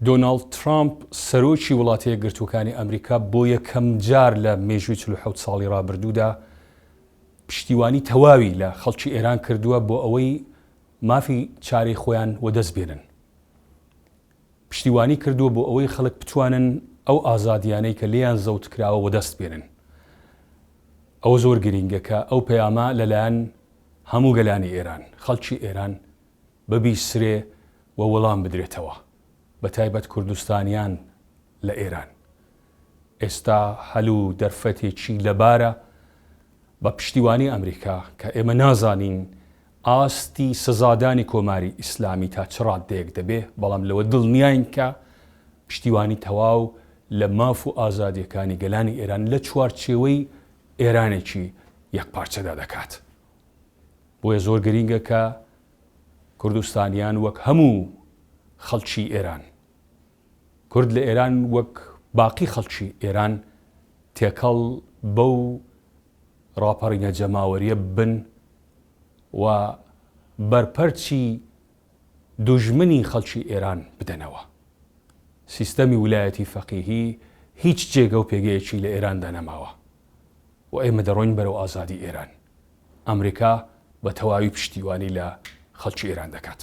دۆناڵد ترامپ، سەرۆکی وڵاتە یەکگرتووەکانی ئەمریکا بۆ یەکەمجار لە مێژووی چل و حەوت ساڵی ڕابردوودا پشتیوانی تەواوی لە خەڵکی ئێران کردووە بۆ ئەوەی مافی چارەی خۆیان وەدەست بێنن. پشتیوانی کردووە بۆ ئەوەی خەڵک بتوانن ئەو ئازادییانەی کە لێیان زەوت کراوە وەدەست بێنن. ئەوە زۆر گرینگە کە ئەو پەیامە لەلایەن هەموو گەلانی ئێران، خەڵکی ئێران ببیسرێ و وڵام بدرێتەوە بە تایبەت کوردستانیان لە ئێران ئێستا هەل و دەرفەتێکی لەبارە بە پشتیوانی ئەمریکا کە ئێمە نازانین ئاستی سزادانی کۆماری ئیسلامی تا چ ڕاددەیەک دەبێ بەڵام لەوە دڵنیاین کە پشتیوانی تەواو لە ماف و ئازادیەکانی گەلانی ئێران لە چوارچێوەی ئێرانێکی یەکپارچەدا دەکات. بۆیە زۆر گرینگە کە کوردستانیان وەک هەموو خەڵکی ئێران، کورد لە ئێران وەک باقی خەڵکی ئێران تێکەڵ بەو ڕاپەڕینە جەماوەریە بن و بەرپەرچی دوژمنی خەڵکی ئێران بدەنەوە. سیستەمی ولایەتی فەقیهی هیچ جێگە و پێگەیەکی لە ئێراندا نەماوە و ئێمە دەڕۆین بەرەو ئازادی ئێران. ئەمریکا بە تەواوی پشتیوانی لە خەڵکی ئێران دەکات.